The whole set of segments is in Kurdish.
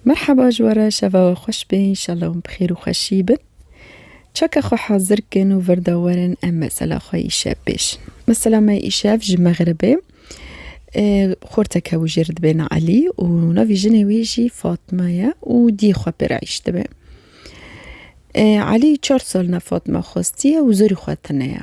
Merhaba ji we re şeva we xweş be înşallah hûn bi xêr û xweşî bin. Çaka xwe hazir kin û virda werin em mesela xwe îşev bêjin. Mesela me îşev ji Mexribê xorteke wijêr dibêne Elî û navê jinê wî jî Fatma ye û dî xwe pê re îş dibe. Elî çar sal ne Fatma xwestiye û zorî xwe tune ye.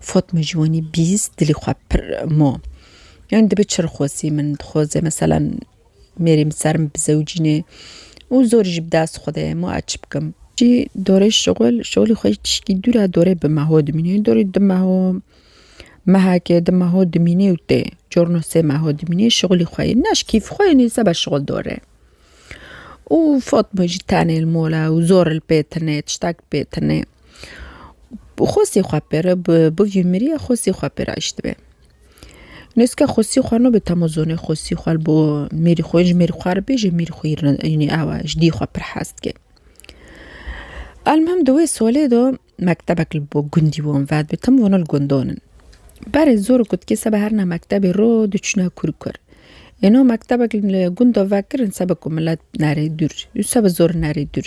Fatma ji wanî bîst dilê xwe pir ma. Yan dibe çi rixwesî min dixwaze mesela mêrê min ser min bizewicîne û zor jî bi dest xwe de ye ma ez çi bikim. Ji dorê şixul, şixulê xwe jî tişkî dûr e dorê bi meho dimîne. Dorê du meho meheke du meho dimîne û tê. Carna sê meho dimîne şixulê xwe yên neş kêfî xwe yên hêse be şixul dore. Û Fatma jî tenê li mol e û zor li pê tune tiştek pê tune. Xwesî xwe pê re bi bivî mirîya xwesî xwe pê re eştibê. Nûske xwesî xwe nû bi temo zonê xwesî xwe li bo mêrî xwe ji mêrî xwe re bêje mêrî xwe îro îne ew e ji dî xwe pir hez dike. Elmim di wê solê de mektebek li bo gundî wan vedibê tim wan li gundan in. Berê zor ku dikê sebe herna mektebê ro diçûna kur kur. Êna mektebek li gunda vekirin sebe ku milet nerê dûr û sebe zor nerê dûr.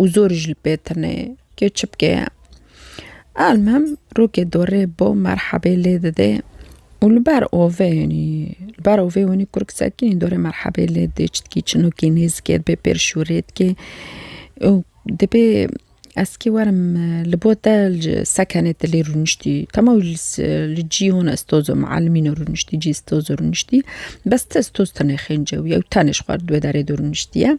û zor ji li pê tune ke çi bike ye. Elmim rokê dorê bo merhebê lê dide û li ber ovê yanî li ber ovê wanî kurk sekînî dorê merhebê lê didê çitkî çinokî nêzikê dibê pêr şûrê dikê û dibê ez kê werim li bo te ji sekenê te lê rûniştî tema wî li cî hûn ez tozo mielimîno rûniştî cî ez tozo rûniştî bes te ez toz tenê xêncewî ew tenê ji xwe li wê derê de rûniştîye.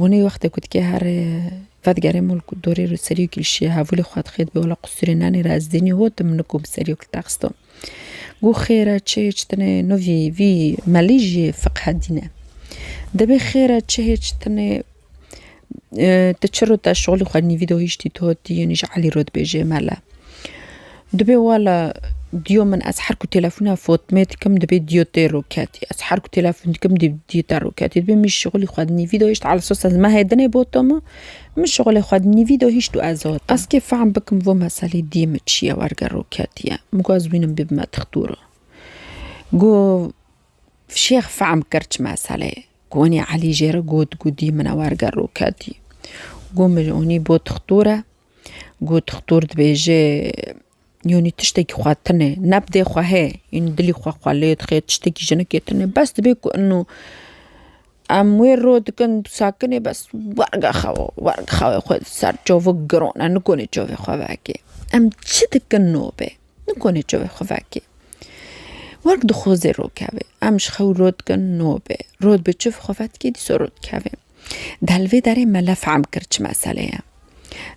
Wanê wextê ku dikê herê vedigerê mol ku dorê rû serî û kîlşîya hevûlê xwe dixê dibê wela qûsûrê nenê re ez dênî hot im niku bi serî û kiltex do. Gû xêr e çi hêç tinê no vî vî melî jî fiqhe dîn e. Dibê xêr e çi hêç tinê ti çi ro te şixulî xwe nîvî do hîştî to dî yenî ji Elî ro dibêjê mele. Dibê wala diyo min ez her ku telefona Fotmê dikim dibê diyo tê roketî. Ez her ku telefon dikim dê diyo te roketî. Dibê min şixulî xwe dinîvî do hişt ala sos ez me heye dinê bo to min. Min şixulê xwe dinîvî do hişt û ez hat. Ez kê fehm bikim vo meselê diyê min çi ye werge roketî ye. Min got ez wînim bibime dixtor. Go şêx fehm kir çi mesele ye. Go wenî Elî jê re got go diyê min e werge roketî. Go min onî bo dixtor e. Got, Xtur dibêje, Yûnî tiştekî xwe tine, ne bi dê xwe hê, yûnî dilî xwe xwe lê dixê, tiştekî jinikê tine, bes dibê ku ino em wê rû dikin sakinê bes werge xewa, werge xewê xwe di ser çavik girone, nikonê çavê xwe vekê. Em çi dikin nobê, nikonê çavê xwe vekê. Werg dixwazê rû kevê, em ji xew rû dikin nobê, rû dibê çavê xwe vekê dîsa rû dikevê. Di helvê derê me le fehm kir çi mesele ye.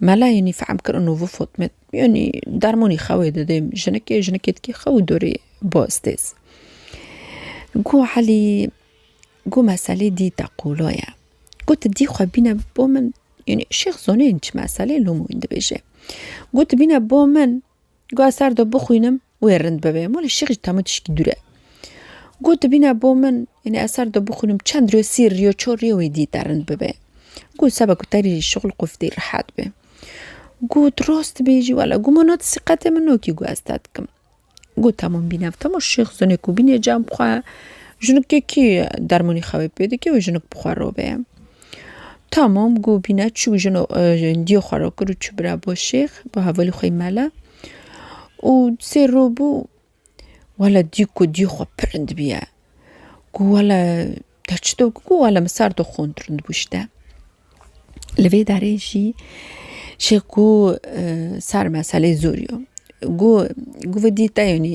Me le yanî fehm kir û nû fotme yanî dermonî xewê didê jinikê, jinikê dikê xew û dorê baz têz. Got Elî got meselê dî teqûlo ye. Got tu dî xwe bîne bo min yanî şêx zonên çi mesele lomû dibêje. Got tu bîne bo min Got ser do bixwînim wê rind bibe. Molê şêx jî temû tişkî dûr e. Got dibîne bo min, yanî ez ser do bixwînim çend riyo sîr riyo çor riyo wê dî te rind bibe. Got seba ku te rî şixul qufdî rehet be. Got rast dibêjî wela guma na siqetê min nokî ku ez te dikim. Got temû bîne ev temû şêx zonê ku bîne cem xwe jinikê kî dermonî xewê pê dike wê jinik bixwe robe. Tamam go bîne çû jino diyo xwe ro kir û çû bira bo şêx bo hevalî xwe mele û sêr ro bû wele dî ku dî xwe pirind bîye ku wele te çi to ku wele min ser dixwin tirind bû ji te. Li vê derê jî şêx go ser meselê zor yo go go vidî te yenî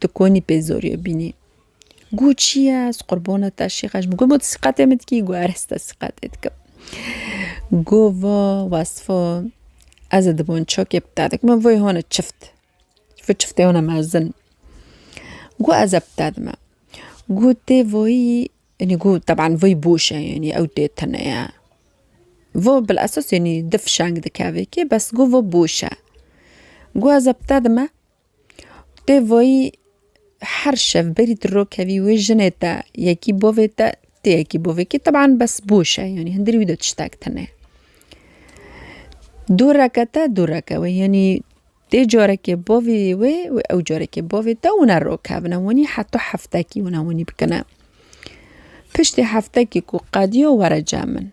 Tu konî pê zorî bînî. Got çi ye ez qurbana te şî xeş bûm. Got ma tu sîqetê min dikî? Got erê ez te sîqetê dikim. Got va Wasfo ez ê di van çakê bi te dikim. Min vayê hane çift. Vê çiftê hane mezin. Got ez ê bi te dime. Got tê vayî yanî got teban vayî boş e yanî ew tê tune ye. Va bil esas yanî di fişeng dikeve kê bes got va boş e. Got ez ê bi te dime. Tê vayî her şev berî tu rokevî wê jinê te yekî bavê te tê yekî bavê kî teban bes boş e yanî hundirî wî de tiştek tune. Doreke te doreke wê yanî tê carekê bavê wê wê ew carekê bavê te wina rokevin e wanî heta heftekî wina wanî bikine. Piştî heftekî ku qediya were cem min.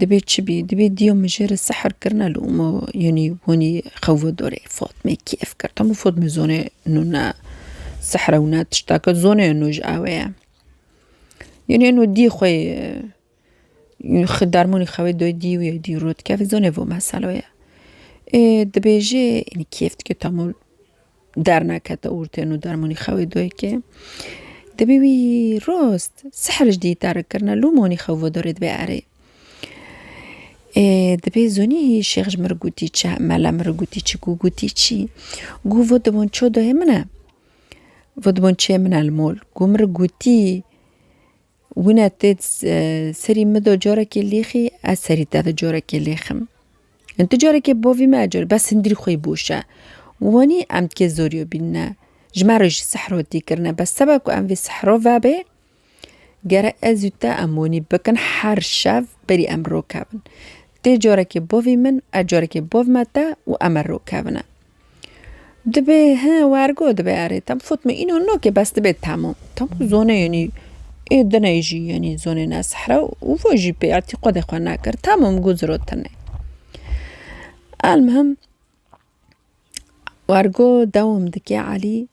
Dibê çi bî? Dibê dîya mijê re sihr kirine li û ma yanî wanî xewa dor ê Fatmê kêf kir. Hemû Fatmê zanê nû ne sihr e û ne tiştek e zanê nû ji ewê ye. Yanî nû dî xwe dermanê xewê dayê dî wê dî rû dikeve zanê vê mesele ye. Ê dibêje kêf dike Dernekete û tên û dermonî xewê doyê ke dibî wî rost sihr ji dî terik kirine lû monî xew vodorê dibê erê. Ê dibê zonî hî şêx ji min re gotî çi mele min re gotî çi gû gotî çi gû vo dibon ço doyê min e vo dibon çê min e li mol gû min re gotî Wina tê serî min do carekê lêxî ez serî te do carekê lêxim. Hin tu carekê bavî me car bes hindîrî xwe yî boş e. Wanî em ti kê zoriyo bînine. Ji me re jî sihir hatî kirine bes seba ku em vê sihira vebê gere ez û te em wanî bikin her şev berî em rokevin. Tê carekê bavî min e carekê bav me te û em e rokevine. Dibe he wergo dibe erê tam fut me ino no ke bes dibe tamam tamam zone yenî ê dine jî yenî zone ne sehra û vo jî pê etî qode xwe nekir tamam gu ziro tine. Elmihim wergo dewam dike elî.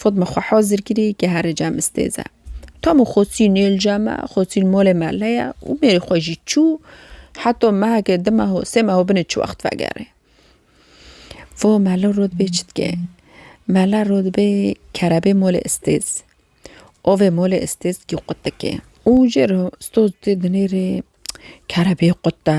Xwed me xwe hazir kirî ke herê cem istêz e. Tam û xotsî nêl cem e, xotsî molê me lê ye û mêrê xwe jî çû. Heta mehekê di meho, sê meho binê çi wext vegerê. Vo melo rû dibê çi dikê? Mela rû dibê kerebê molê istêz. Ovê molê istêz dikî qut dikê. Û jê re stoz tê dinêrê kerebê qut de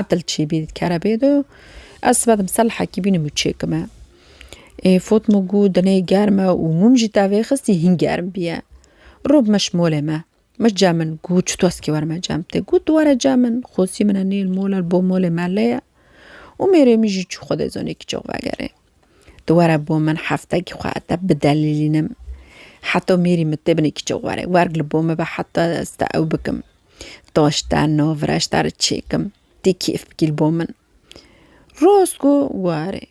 Edil çêbî kerebê do. Ez sibe dim ser li hekî bînim û çêkime. Ê fotmo gû dinê germ e û mûm jî tevê xistî hîn germ bîye. Rû bi me ji molê me. Mi cem min gû çi toskî were me cem tê. Gû tu were cem min. Xosî min e nêl mol e li bo molê me lê ye. Û mêrê min jî çû xwedê zonê kîçok vegerê. Tu were bo min heftekî xwe te bidelîlînim. Heta mêrî min tê binê kîçe were. Werg li bo min be heta ez te ew bikim. Taş te navreş te re çêkim. Tê kêf bikî li bo min. Rast got were.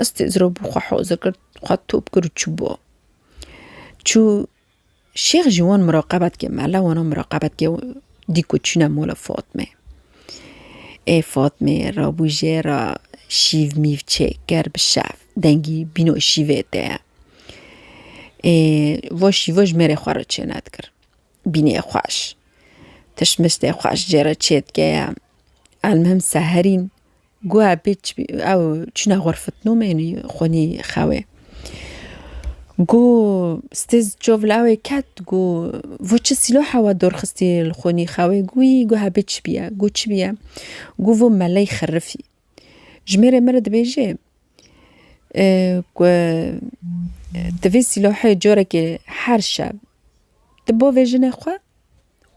Ez têzro bû xwe hazir kir, xwe top kir û çû bo. Çû Şêx ji wan miraqebet kir, mele wana miraqebet kir û dît ku çûne mola Fatmê. Ê Fatmê rabû jê re şîv mîv çê ker bi şev, dengî bîno şîvê tê. Ê va şîva ji mêrê xwe re çêne dikir. Bînê xweş, tişt miştê xweş cê re çê dike ye. Elmihim seherîn. Guha pîç bî ew çûna xurfitno mênî xwenî xewê. Go stiz çov li ewê ket go vo çi sîloha we dorxistî li xwenî xewê go yî guha bê çi bîye go çi bîye go vo meley xerifî ji mêrê min re dibêjê ku ti vê sîlohê corekê her şev ti bo vê jinê xwe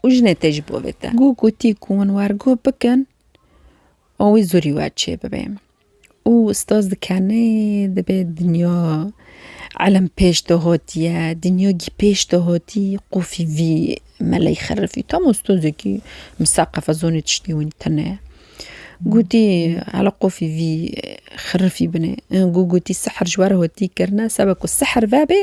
û jinê tê ji bo vê te. Ku gotî ku min wergo bikin û wî zorî wer çêbibe û staz dike nê dibê dinya elim pêş de hatiye dinya gî pêş de hatî qofî vî meley xerifî tam ûstozekî miseqefe zonê tiştî wîn tine gotî hela qofî vî xerifî bine ku gotî sihir ji wer hatî kirine seba ku sihir vebê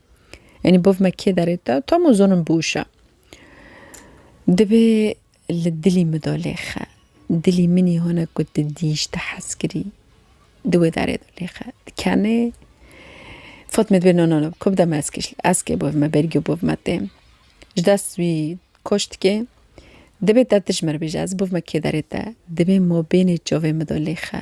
Yanî bav me kê derê da, tam û zonim bi ûşa. Divê li dilî min da lêxe. Dilî min î hona ku tu dîj, tu hez kirî. Di wê derê da lêxe. Di kenê Fatmê divê no no no ku bide me ez kişl ez kê bav me bergî û bav me tê. Ji dest wî koç dikê. Divê te tij min re bêje ez bav me kê derê te. Divê ma bênê çavê min da lêxe.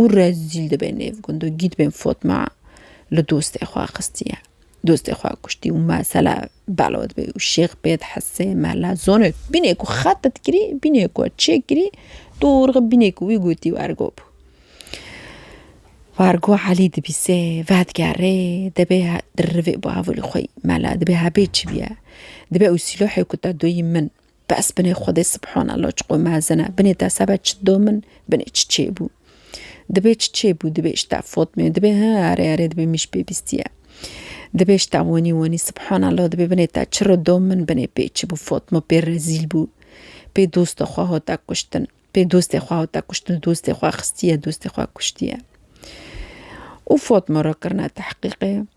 û rezîl dibe nêv gund û gît bên Fatma li dostê xwe xistiye. Dostê xwe kuştî û mesela bela dibe û şêx bêd hesê mela zanê bînê ku xet dikirî bînê ku çê kirî dorxi bînê ku wî gotî wergo bû. Wergo Elî dibîse vedigerê dibê di rivê bavulî xwe yî mela dibê hebê çi bîye dibe û sîlahê ku te doyî min Bes binê Xwedê Subhanallah çiqo mezin e, binê te sebe çi domin, binê çi çêbû. Dibê çi çêbû, dibê ji te fotmê, dibê he erê erê dibê mîş pê bîstiye. Dibê ji te wenî wenî Subhanallah dibê binê te çi re domin, binê pê çi bû fotmo pê rezîl bû. Pê dosta xwe hate kuştin. Pê dostê xwe hate kuştin û dostê xwe xistiye, dostê xwe kuştiye. Û fotmo re kirine tehqîqê.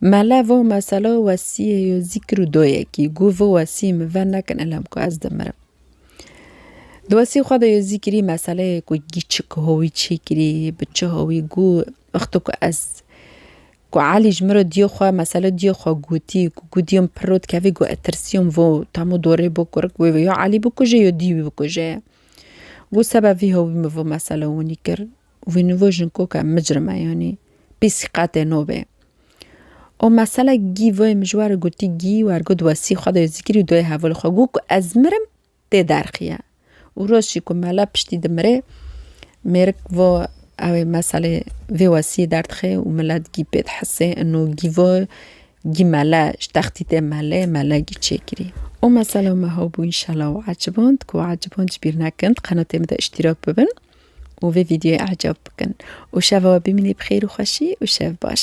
Mele vo mesela wesiyê yo zî kir û doyekî got vê wesiyê min ver nekin elem ku ez dimirim. Di wesiyê xwe de yo zî kirî meseleyê ku çi ki howî çê kirî, bi çi howî got wexto ku ez ku Elî ji min re duyê xwe mesele duyê xwe gotî ku got duyê min pir rû dikevî got ez tirsiyom vo tamo dorê bo kurik wê yo Elî bikuje yo duyê wî bikuje. Got seba vî howî min vê mesele winî kir. Wî nivo jin koka micrime yanî pîsî qatê no bê. O mesela gî voyê min ji were gotî gî wergot wesî xwe dayê zikirî û dayê hevolê xwe got ku ez mirim tê derxiye. Û roz jî ku mele piştî dimirê mêrik vo ewê meselê vê wesîyê derdixê û milet gî pê dihisê ino gî vo gî mele ji textî tê melê mele gî çêkirî. O mesela me hebûn şela û eciband ku eciband ji bîr nekin di qenatê min de îştîrak bibin. û vê vîdyoyê ecab bikin û şeva we bimînî bi xêr û xweşî û şev baş.